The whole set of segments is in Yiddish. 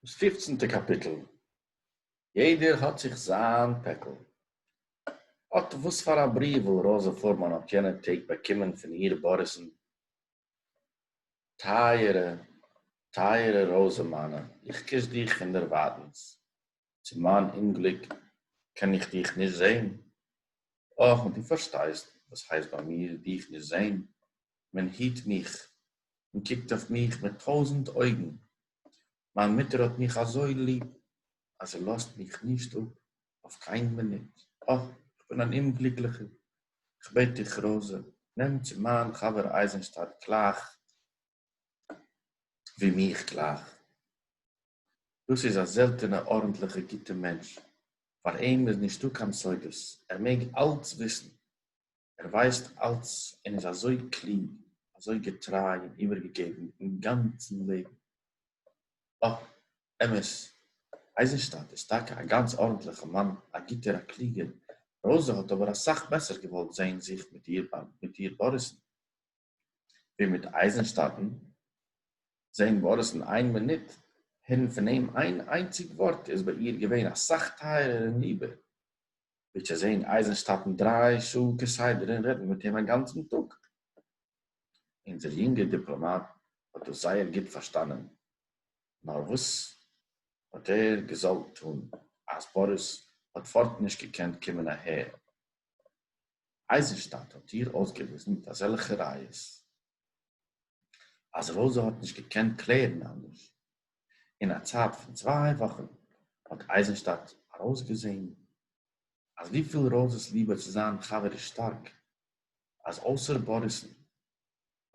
דאס פופצנטע קאפיטל, יעדער האט זיך זיין פעקל. אט וואס פאר א בריוו וואל ראזע פורמאן האט יענע טעג באקומען פון איר באריס'ן, טייערע טייערע ראזע מיינע, איך קיש דיך פון דערווייטענס, צו מיין אומגליק קען איך דיך נישט זען, אָך, און דו פאַרשטייסט, וואָס הייסט ביי מיר דיך נישט זען, מען היט מיך, מען קוקט אויף מיך מיט טויזנט אויגן, מיין מוטער האָט מיך אַזוי ליב, אַז זי לאָזט מיך נישט אָפּ אויף קיין מינוט, אָך, איך בין אַן אומגליקלעכער, איך בעט דיך, ראָזע, נעם צו מיין חבר אייזנשטאַדט גלייך ווי מיך גלייך. דאס איז א זעלטענע ארנטליכע גוטע מענטש, פאר אים איז נישטא קיין סודות, ער מעג אלץ וויסן, ער ווייסט אלץ און איז אזוי קלוג, אזוי געטריי און איבערגעגעבן אין גאנצן לעבן. בה, אמת, אייזנשטאט איז טאקע א גאנץ ארנטליכע מאן, א גוטער, א קלוגער, ראזע האט אבער אסאך בעסער געוואלט זען זיך מיט איר באריסן. ווי מיט אייזנשטאטן, זעהן ווארטס אין איין מינוט, הערן פון אים איין איינציג ווארט איז ביי איר געווען אסאך טייערער און ליבער, ווי צו זעהן אייזנשטאטן דריי שעה כסדר און רעדן מיט אים א גאנצן טאג. אונזער יונגער דיפלאמאט האט דאס זייער גוט פארשטאנען, נאר וואס האט ער געזאלט טון אז ווארס האט פארט נישט געקענט קומען אהער? אייזנשטאדט האט איר אויסגעוויזן מיט אזעלכע ראיות אז רויזא האט נישט געקענט קלערן אנדערש. אין א צייט פון צוויי וואכן האט אייזנשטאדט ארויסגעזען אז וויפיל רויזא'ס ליבע צו זיין חבר איז שטארק, אז אויסער באריס'ן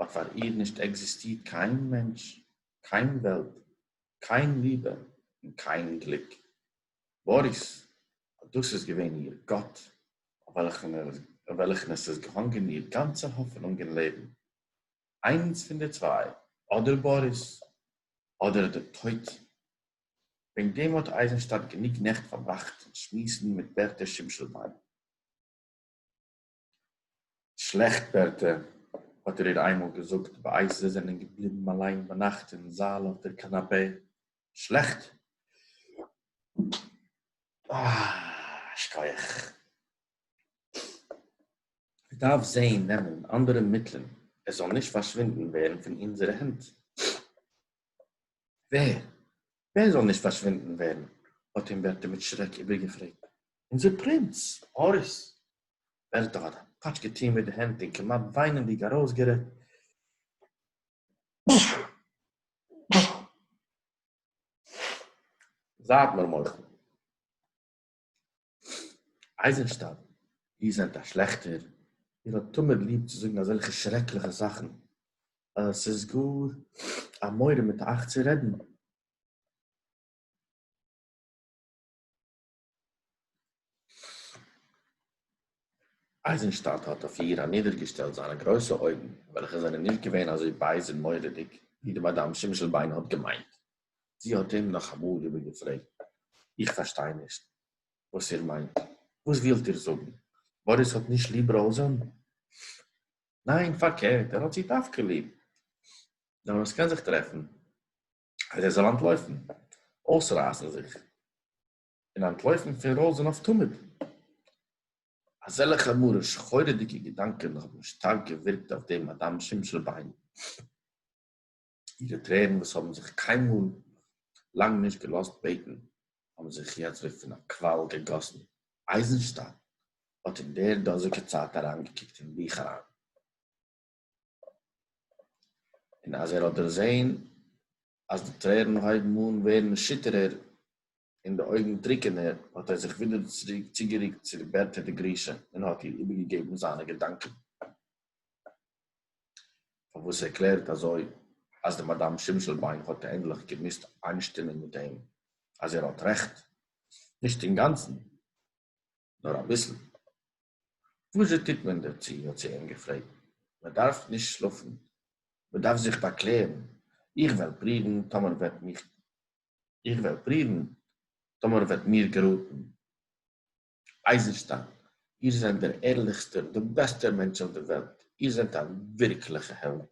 האט פאר איר נישט עקזיסטירט קיין מענטש, קיין וועלט, קיין ליבע און קיין גליק. באָריס, אָט דאָס איז געװען איר גאָט, אױף װעלכן עס איז געהאַנגען איר גאַנצע האָפֿענונג אין לעבן. אײנס פֿון די צװײ, אָדער באָריס, אָדער דער טױט. װעגן דעם האָט אײַזנשטאַט גענוג נעכט פֿאַרבראַכט אין שמועסן מיט בערטע שמשלבײן. שלעכט ווערטער האָט ער איר איינמאָל געזאָגט, בעת זיי זענען געבליבן אַליין ביי נאַכט אין זאַל אויף דער קאַנאַפּע. שלעכט? אָ, שכוח. מען דאַרף זען נעמען אַנדערע מיטלען, עס זאָל נישט פאַרשווינדן ווערן פון אונזערע הענט. ווער? ווער זאָל נישט פֿאַרשווינדן ווערן? האָט אים בערטע מיט שרעק איבערגעפֿרעגט. אונדזער פּרינץ, באָריס! בערטע האָט אַ פּאַטש געטאָן מיט די הענט און כּמעט וויינענדיק אַרויסגערעדט. זײַט מיר מוחל! אייזענשטאט, איר זענט א שלעכטער, איר האט תמיד ליב צו זאגן אזעלכע שרעקליכע זאכן, אז עס איז גאר א מורא מיט אייך צו רעדן. אייזענשטאט האט אויף איר אנידערגעשטעלט זיינע גרויסע אויגן, וועלכע זענען נישט געווען אזוי בייז און מורא'דיג, ווי די מאדאם שמשלביין האט געמיינט. זי האָט אים נאָך אַ מאָל איבערגעפֿרעגט, איך פֿאַרשטײ נישט, װאָס איר מײנט. װאָס װילט איר זאָגן? באָריס האָט נישט ליב ראָזען? נײן, פֿאַרקערט, ער האָט זי דװקא ליב. נאָר װאָס קאָן זיך טרעפֿן, אַז ער זאָל אַנטלױפֿן, אױסרײַסן זיך און אַנטלױפֿן פֿון ראָזען אױף תּמיד? אַזעלכע מרה-שחורהדיקע געדאַנקען האָבן שטאַרק געװירקט אױף דעם אַדאַם שמשלבײן. אירע טרערן וואס האבן זיך קיינמאל לאנג נישט געלאזט בעטן האבן זיך יעצט ווי פון א קוואל געגאסן. אייזנשטיין האט אין דער דאזיגער צייט אריינגעקוקט אין בוך אריין, און אז ער האט דערזען אז די טרערן הויבן אן ווערן שיטערער און די אויגן טרוקענער, האָט ער זיך ווידער צוריק צוגערוקט צו די בעט טעטע גרישע און האָט איר איבערגעגעבן זיינע געדאַנקען, פאַרוואָס ער קלערט אַזוי, אַז די מאַדאַם שימשלביין האָט ענדלעך געמוזט איינשטימען מיט אים, אַז ער האָט רעכט, נישט אינגאַנצן, נאָר אַ ביסל. װאָס-זשע טוט מען דערצו? האָט זי אים געפֿרעגט. מע דאַרף נישט שלאָפֿן. מע דאַרף זיך באַקלערן. איך װעל פּרוּװן, טאָמער װעט מיך, איך װעל פּרוּװן, טאָמער װעט מיר געראָטן. אײַזנשטײן, איר זענט דער ערלעכסטער, דער בעסטער מענטש אױף דער װעלט. איר זענט אַ װירקלעכע העלד.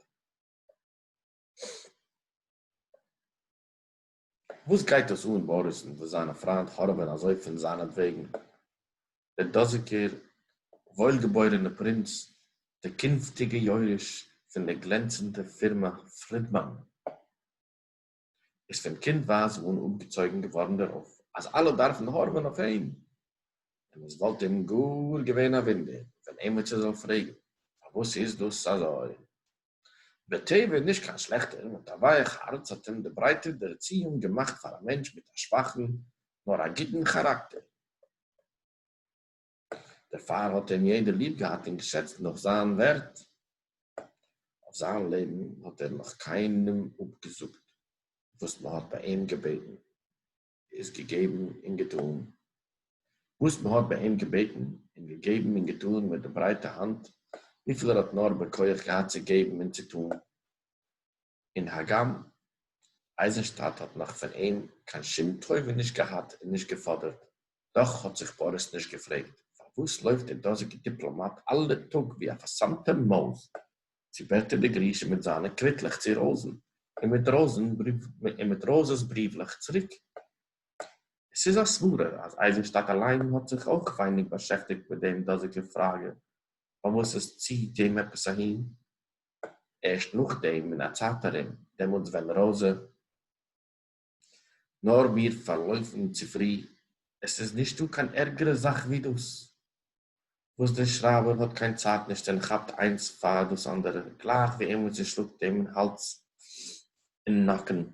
וואס גייט דאס אן באריס'ן וואס זיינע פריינט הארעווען אזוי פון זיינעטוועגן? דער דאזיגער וואוילגעבוירענער פרינץ, דער קונפטיגער יורש פון דער גלענצענדער פירמע פרידמאן, איז פון קינדווייז אן אפגעצויגן געווארן דערויף אז אלע דארפן הארעווען אויף אים, און עס וואלט אים גאר געווען א וואונדער ווען עימיצער זאל פרעגן פארוואס איז דאס אזוי. בטבע נישט קיין שלעכטער, מיט א ווייעך הארץ האט אים די ברייטע ערציאונג געמאכט פאר א מענטש מיט א שוואכן נאר א גוטן כאראקטער. דערפאר האט אים יעדער ליב געהאט און געשעצט נאך זיין ווערט. אויף זיין לעבן האט ער נאך קיינעם אפגעזאגט וואס מען האט ביי אים געבעטן. איז געגעבן און געטאָן, װאָס מע האָט בײַ אים געבעטן, און געגעבן און געטאָן מיט דער ברײטער האַנט, װיפֿל ער האָט נאָר בכּוח געהאַט צו געבן און צו טאָן, און הגם אײַזנשטאַט האָט נאָך פֿון אים קײן שום טובֿה נישט געהאַט און נישט געפֿאָדערט, דאָך האָט זיך באָריס נישט געפֿרעגט, פֿאַר װאָס לױפֿט דער דאָזיקער דיפּלאָמאַט אַלע טאָג, װי אַ פֿאַרסמטע מױז? צו בעט ער די גרישע מיט זײַנע קוויטלעך צו ראָזן, און מיט ראָזן בריוו און מיט ראָזעס בריוולעך צוריק. עס איז אַ סברה, אַז אײַזנשטאַט אַליין האָט זיך אויך ווייניק באַשעפֿטיקט מיט דעם דאָזיקער פֿראַגע, פֿאַר וואָס עס ציט אים עפּעס אַהין. ערשט נאָך דעם, אין אַ צײַט אַרום, דעמאָלט ווען ראָזע, נאר מיר פארלויפן צו פרי. עס איז נישטא קיין ערגערע זאך ווי דאס, וואס דער שרייבער האט קיין צייט נישט און כאפט איינס פאר דאס אנדערע, גלייך ווי איינמאל זי שלאגט אים אין האלז און נאקן.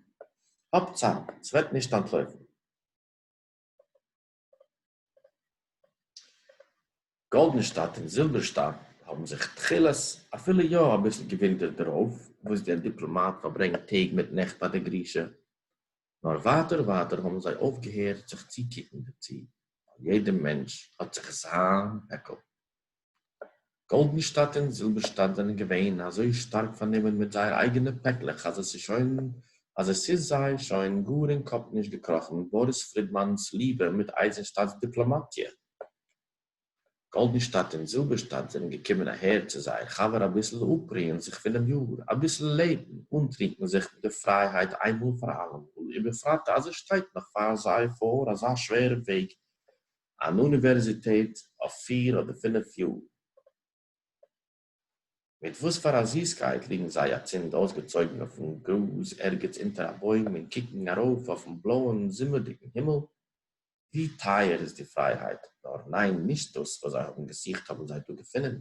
האב צייט, ס'וועט נישט אנטלויפן. גאלדענשטאט און זילבערשטאט האבן זיך תחילת אפילו יא אביסל געווינדערט דערויף וואס דער דיפלאמאט פארברענגט טעג מיט נעכט ביי די גרושה, נאר ווייטער ווייטער האבן זיי אויפגעהערט זיך צוקוקן דערצו, ווייל יעדער מענטש האט זיך זיין פעקל. גאלדענשטאט און זילבערשטאט זענען געווען אזוי שטארק פארנומען מיט זייער אייגענע פעקלעך אז עס איז שוין אז עס איז זיי שוין גאר אין קאפ נישט געקראכן באריס פרידמאן'ס ליבע מיט אייזענשטאט'ס דיפלאמאטיע. גאלדענשטאט און זילבערשטאט זענען געקומען אהער צו זייער חבר אביסל אפרוען זיך פונעם יאר, אביסל לעבן, אנטרינקן זיך מיט די פרייהייט איינמאל פאר אלעמאל, ובפרט אז עס שטייט נאך פאר זיי פאר אזא שווערע וועג אן אוניווערזיטעט אויף פיר אדער פינף יאר. מיט וואס פאר א זיסקייט ליגן זיי אצינד אויסגעצויגן אויפן גראז ערגעץ אונטער א בוים און קוקן ארויף אויפן בלויען זומערדיגן הימל. ווי טייער איז די פרייהייט, נאר ניין נישט דאס וואס זיי האבן געזוכט האבן זיי דא געפונען.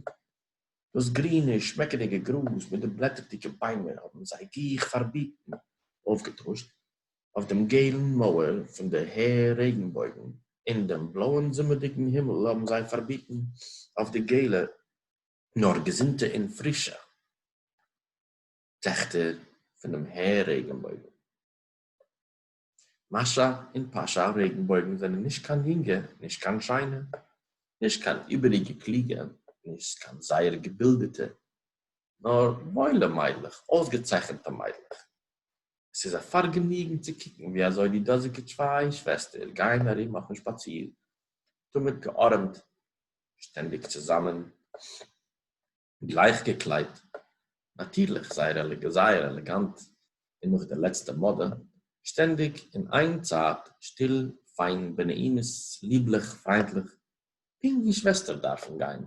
דאס גרינע שמעקעדיגע גראז מיט די בלעטערדיגע ביימער האבן זיי גיך פארביטן, אויפגעטוישט אויף דעם געלן מויער פֿון דער הער רעגנבויגן, און דעם בלאָען זומערדיקן הימל האָבן זיי פֿאַרביטן אויף די געלע, נאָר געזונטע און פֿרישע טעכטער פֿון דעם הער רעגנבויגן. מאַשאַ און פּאַשאַ רעגנבויגן זענען נישט קיין יונגע, נישט קיין שיינע, נישט קיין איבעריקע קלוגע, נישט קיין זייער געבילדעטע, נאָר וואוילע מיידלעך, אויסגעצייכנטע מיידלעך. עס איז א פארגעניגן צו קוקן ווי אזוי די דאזיגע צוויי שוועסטער גייען ארום אויפן שפאציר, תמיד געארעמט, שטענדיג צוזאמען, גלייך געקליידט, נאטירליך זייער זייער עלעגאנט און נאך די לעצטע מאדע, שטענדיג אין איין צייט שטיל, פיין, בנעימות, ליבליך, פריינטליך, פונקט ווי שוועסטער דארפן גיין.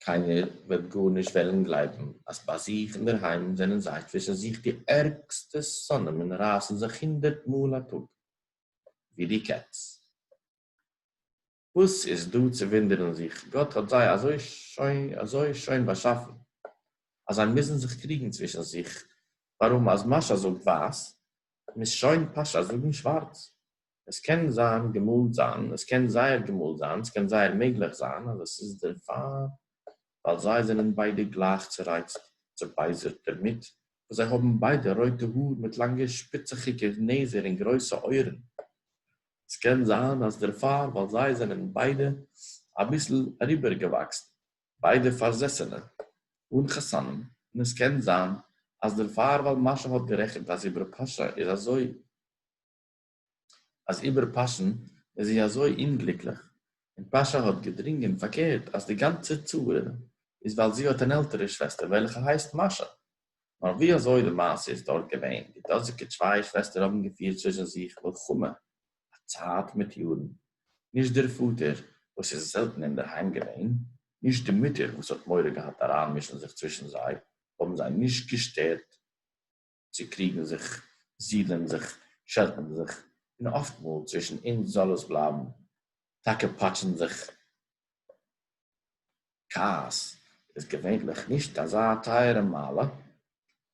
קיינער וועט גארנישט וועלן גלייבן אז ביי זיך אינדערהיים זענען זיי צווישן זיך די ערגסטע שונאים און רייסן זיך הונדערט מאל א טאג ווי די קעץ. וואס איז דא צו וואונדערן זיך, גאט האט זיי אזוי שוין באשאפן אז זיי מוזן זיך קריגן צווישן זיך, ווארום אז משא זאגט ווייס, מוז שוין פשא זאגן שווארץ. עס קען זיין געמאלט זיין, עס קען זייער געמאלט זיין, עס קען זייער מעגליך זיין אז עס איז דערפאר ווייל זיי זענען ביידע גלייך צורייצט, צעבייזערט דערמיט, וואס זיי האבן ביידע רויטע האר מיט לאנגע שפיצעכיגע נעזער און גרויסע אויערן. עס קען זיין אז דערפאר ווייל זיי זענען ביידע אביסל אריבערגעוואקסן, ביידע פארזעסענע, אן חתנים, און עס קען זיין אז דערפאר ווייל משה האט גערעכנט אז איבער פרשה איז אזוי. אַז איבער פּאַשען איז זי אַזױ אומגליקלעך, און פּאַשע האָט געדרונגען פֿאַרקערט, אַז די גאַנצע צרה איז, װײַל זי האָט אַן עלטערע שװעסטער, װעלכע הײסט מאַשאַ. נאָר װי אַזױ די מעשׂה איז דאָרט געװען, די דאָזיקע צװײ שװעסטער האָבן געפֿירט צװישן זיך מלחמה אַ צײַט מיט יאָרן. נישט דער פֿאָטער, װאָס איז זעלטן אין דער הײם געװען, נישט די מוטער, װאָס האָט מורא געהאַט אַרײַנמישן זיך צװישן זײ, האָבן זײ נישט געשטערט, צו קריגן זיך, זידלען זיך, שעלטן זיך, און אָפֿטמאָל, צווישן אונדז זאָל עס בלײַבן, טאַקע פּאַטשן זיך. כּעס איז געוויינטלעך נישט אַזאַ טײַערע מעלה.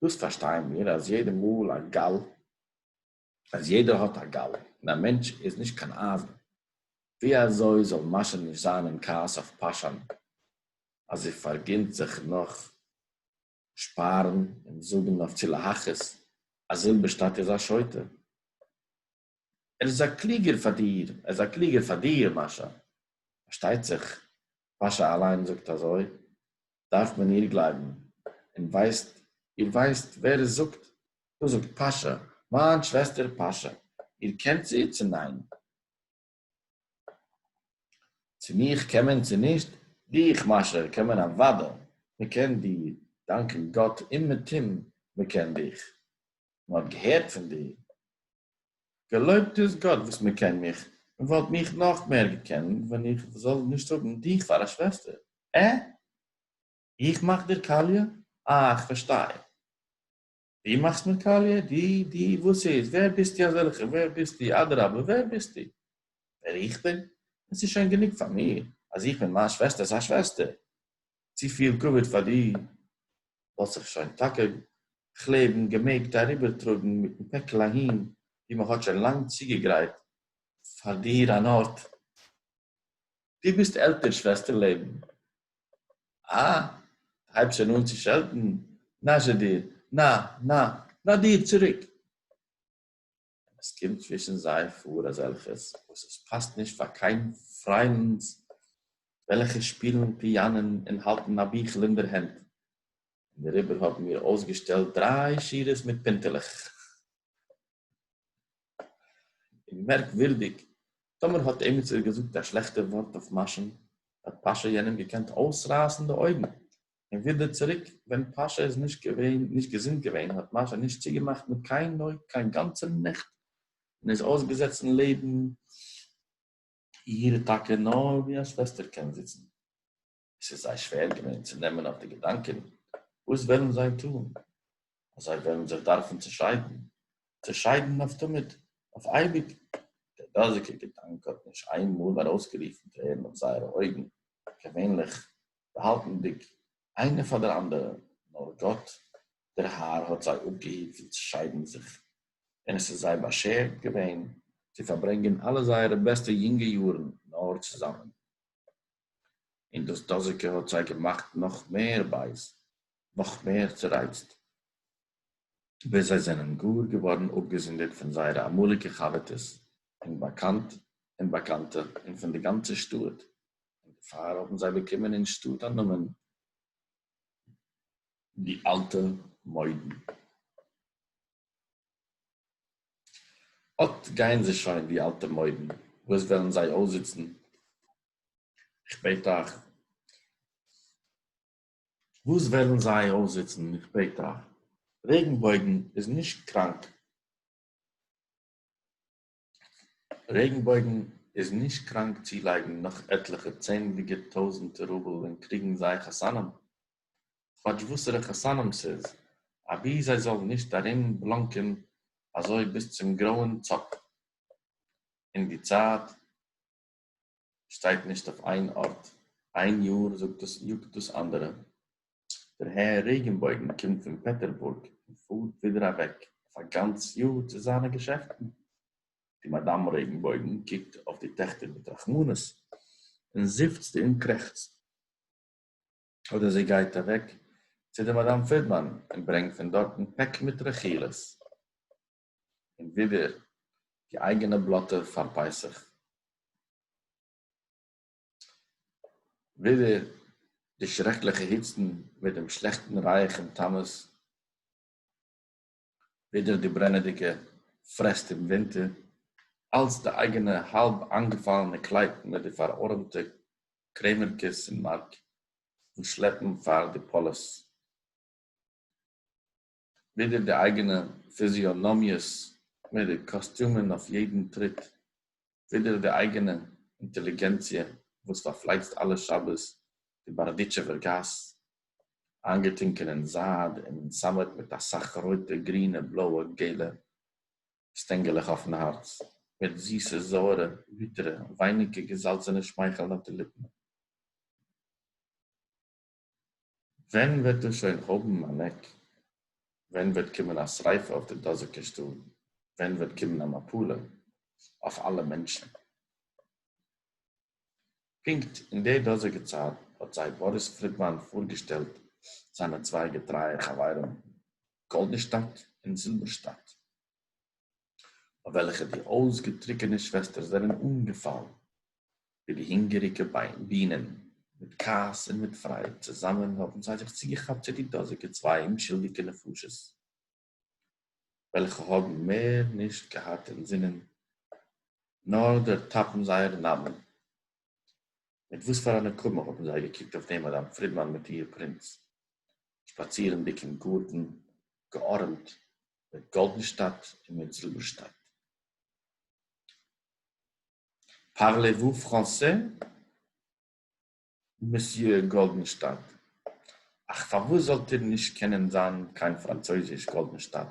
דאָס פֿאַרשטייען מיר, אַז יעדער מאָל אַ גאַל, אַז יעדער האָט אַ גאַל, און אַ מענטש איז נישט קיין אײַזן. ווי אַזוי זאָל מאַשע נישט זײַן אין כּעס אויף פּאַשאַן, אַז זי פֿאַרגינט זיך נאָך? שפארן און זאגן אויף צו להכעיס אז זילבערשטאט איז א שוטה. ער איז א קלוגער פאר דיר, ער איז א קלוגער פאר דיר מאשא. פארשטייט זיך מאשא אליין זאגט אזוי, דארף מען איר גלייבן. און ווייסט איר ווייסט ווער עס זאגט? דאס זאגט פאשא, מיין שוועסטער פאשא. איר קענט זי צו ניין? צו מיך קען מען צו נישט? דיך מאשר קען מען אוודאי, מען קען דיר דאנקען גאט אומעטום מען קען דיך, מען האט געהערט פון דיר, געלויבט איז גאט וואס מען קען מיך, מען וואלט מיך נאך מער געקענט ווען איך זאל נישט האבן דיך פאר א שוועסטער, עה? איך מאך דיר קאליע? אה איך פארשטיי. די מאכסט מיר קאליע? די? די? וואס איז? ווער ביסטו אזעלכע? ווער ביסטו? אדרבה ווער ביסטו? ווער איך בין? עס איז שוין גענוג פאר מיר אז איך בין מיין שוועסטער'ס א שוועסטער. צופיל כבוד פאר דיר וואלט זיך שוין טאקע כ'לעבן געמעגט אריבערטראגן מיטן פעקל אהין וואו מ'האט שוין לאנג צוגעגרייט פאר דיר אן ארט. דו ביסט עלטער שוועסטער לעבן. אה, הייבסט שוין אן צו שעלטן, נא זשע דיר, נא, נא, נא דיר צוריק. און עס קומט צווישן זיי פאר אזעלכעס וואס עס פאסט נישט פאר קיין פריינד וועלכע שפילן פיאנען און האלטן א ביכל אין דער הענט, און דעריבער האבן מיר אויסגעשטעלט דריי שורות מיט פינטעלעך. און מערקווירדיג, טאמער האט עימיצער געזאגט א שלעכטע ווארט אויף משה'ן, האט פאשא יענעם געקענט אויסרייסן די אויגן, און ווידער צוריק, ווען פאשא איז נישט געווען, נישט געזונט געווען, האט משה'ן נישט צוגעמאכט מיט קיין אויג קיין גאנצע נעכט, און איז אויסגעזעצן לעבן איר טאקע נאר ווי א שוועסטער קען זיצן. עס איז זיי שווער געווען צו נעמען אויף די געדאנקען, וואס וועלן זיי טאן? אז זיי וועלן זיך דארפן צעשיידן? צעשיידן אויף תמיד? אויף אייביג? דער דאזיגער געדאנק האט נישט איין מאל ארויסגערופן טרערן אויף זייערע אויגן, געווענליך באהאלטנדיג איינע פאר דער אנדערער, נאר גאט דער האר האט זיי אפגעהיט פון צעשיידן זיך, און עס איז זיי באשערט געווען צו פארברענגען אלע זייערע בעסטע יונגע יארן נאר צוזאמען. און דאס דאזיקע האט זיי געמאכט נאך מער בייז, נאך מער צורייצט, ביז זיי זענען גאר געווארן אפגעזונדערט פון זייערע אמאליגע חבר'טעס און באקאנט און באקאנטע און פון די גאנצע שטאט, און דערפאר האבן זיי באקומען אין שטאט א נאמען די אלטע מוידן. אָט גײען זײ שױן, די אַלטע מױדן, װוּ עס װעלן זײ אױסזיצן, איך בעט אײַך! װוּ עס װעלן זײ אױסזיצן, איך בעט אײַך! רעגנבױגן איז נישט קראַנק. רעגנבויגן איז נישט קראנק צולייגן נאך עטליכע צענדליגע טויזענטע רובל ווען קריגן זיי חתנים כאטש וואסערע חתנים ס'איז אבי זיי זאלן נישט ארום בלאנקען אזוי ביז צום גרויען צאפ אין די צייט שטייט נישט אויף איין ארט, איין יאר זאגט דאס יאגט דאס אנדערע, דער הער רעגענבויגן קומט פון פעטערבורג און פארט ווידער אוועק אויף א גאנץ יאר צו זיינע געשעפטן, די מאדאם רעגענבויגן קוקט אויף די טעכטער מיט רחמנות און זיפצט און קרעכצט, אדער זי גייט אוועק צו די מאדאם פרידמאן און ברענגט פון דארטן פעק מיט רכילות. און ווידער די אייגענע בלאטער פאר פסח. ווידער די שרעקליכע היצן מיט דעם שלעכטן רייעך אום תמוז. ווידער די ברענעדיגע פרעסט אום ווינטער. אלץ די אייגענע האלב איינגעפאלענע קלייט מיט די פארארעמטע קרעמערקעס אין מארק און שלעפן פאר די פאליס. ווידער די אייגענע פיזיאנאמיעס מיט די קאסטיומען אויף יעדן טריט, ווידער די אייגענע אינטעליגענציע וואס פארפלייצט אלע שבת די בארדיטשעווער גאס, איינגעטונקען אין זייד און אין סאמעט מיט אסאך רויטע, גרינע, בלויע, געלע שטענגעלעך אויפן הארץ, מיט זיסע, זויערע, ביטערע, ווייניגע געזאלצענע שמייכלן אויף די ליפן. ווען וועט דאס שוין האבן אן עק? ווען וועט קומען א שריפה אויף די דאזיגע שטאט? ווען וועט קומען א מפלה אויף אלע מענטשן? פונקט אין די דאזיגע צייט האט זיי באריס פרידמאן פארגעשטעלט זיינע צוויי געטרייע חברים גאלדעשטאט און זילבערשטאט. אויף וועלכע די אויסגעטרוקענע שוועסטער זענען אָנגעפאַלן, ווי די הונגעריקע בינען, מיט כעס און מיט פרייד צוזאַמען האָבן זיי זיך צוגעכאַפּט צו די דאָזיקע צוויי אומשולדיקע נפשות, וועלכע האָבן מער נישט געהאַט אין זינען נאָר דערטאַפּן זייער נאַמען. מיט וואָס פאַר אַ נקמה האָבן זיי געקוקט אויף דעם מאַדאַם פרידמאַן מיט איר פּרינץ, שפּאַצירנדיק אין גאָרטן געאָרעמט מיט גאלדן שטאט און מיט זילבער שטאט. פארלעוו פראנסע, מסיע גאלדן שטאט, אך פארוואס זאלט איר נישט קענען זיין קיין פראנצויזיש גאלדן שטאט,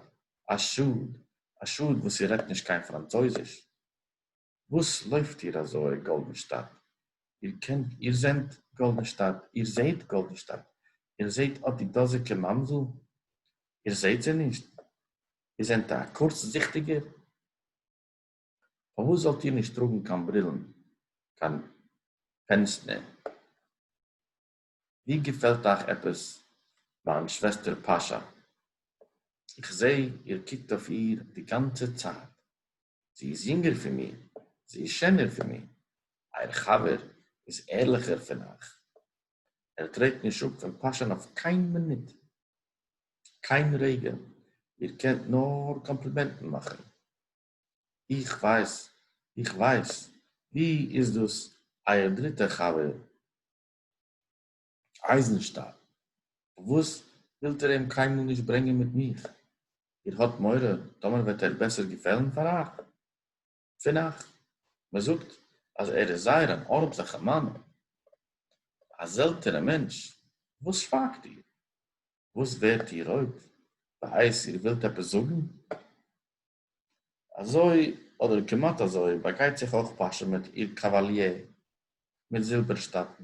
א שאד, א שאד וואס איר רעדט נישט קיין פראנצויזיש. וואס לויפט איר אזוי גאלדענשטאט? איר קענט איר זענט גאלדענשטאט? איר זעהט גאלדענשטאט? איר זעהט אט די דאזיגע מאנדל? איר זעהט זי נישט? איר זענט א קורצזיכטיגער? פארוואס זאלט איר נישט טראגן קיין ברילן, קיין פענסטנער? ווי געפעלט אייך עפעס מיין שוועסטער פאשא? איך זעה איר קוקט אויף איר די גאנצע צייט, זי איז יונגער פון מיר, זי איז שענער פון מיר, אייער חבר איז ערליכער פון אייך, ער טרעט נישט אפ פון פאשען אויף קיין מינוט, קיין רגע, איר קענט נאר קאמפלימענטן מאכן, איך ווייס, איך ווייס, ווי איז דאס אייער דריטער חבר? אײַזנשטאַל, פֿאַרװאָס װילט איר אים קײן מאָל נישט ברענגען מיט מיך? איר האָט מורא, טאָמער װעט ער בעסער געפֿעלן פֿאַר אײַך? פֿון אײַך? מע זאָגט, אַז ער איז זײער אַן אָרנטלעכער מאַן, אַ זעלטענער מענטש. װאָס שװײַגט איר? װאָס װערט איר רױט? װאָס? איר װילט עפּעס זאָגן? אזוי, אדער כמעט אזוי, באגייט זיך אויך פאשא מיט איר קאוואליער, מיט זילבערשטאטן.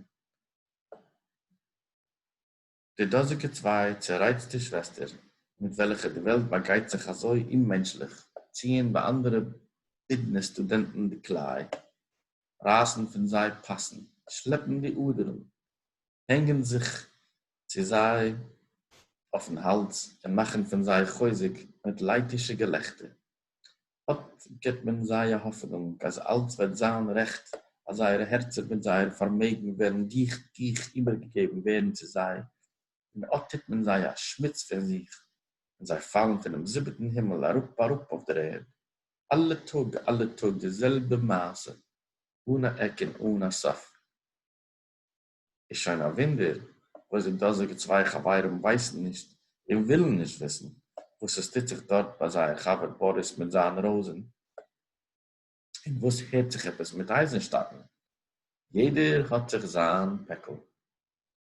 די דאזיגע צוויי צערייצטע שוועסטער, מיט וועלכע די וועלט באגייט זיך אזוי אוממענטשליך, ציען ביי אנדערע בידנער סטודענטן די קליי. רײַסן פֿון זײ פּאַסן, שלעפּן די אָדערן, הענגען זיך צו זײ אױפֿן האַלדז און מאַכן פֿון זײ חוזק מיט לײַטישע געלעכטער. אָט גיט מען זײ אַ האָפֿענונג, אַז אַלץ װעט זײַן רעכט, אַז זײערע הערצער מיט זײער פֿאַרמעגן װעלן גיך, גיך איבערגעגעבן װערן צו זײ, און אָט טוט מען זײ אַ שמיץ פֿון זיך, און זײ פֿאַלן פֿונעם זיבעטן הימל אַראָפּ, אַראָפּ אױף דער ערד. אלע טאג אלע טאג די זעלבע מעשה אן א עק און אן א סוף. איז שוין א וואונדער וואס די דאזיגע צוויי חברים ווייסן נישט און ווילן נישט וויסן וואס עס טוט זיך דארט ביי זייער חבר באריס מיט זיין ראזען און וואס הערט זיך עפעס מיט אייזענשטאטן. יעדער האט זיך זיין פעקל.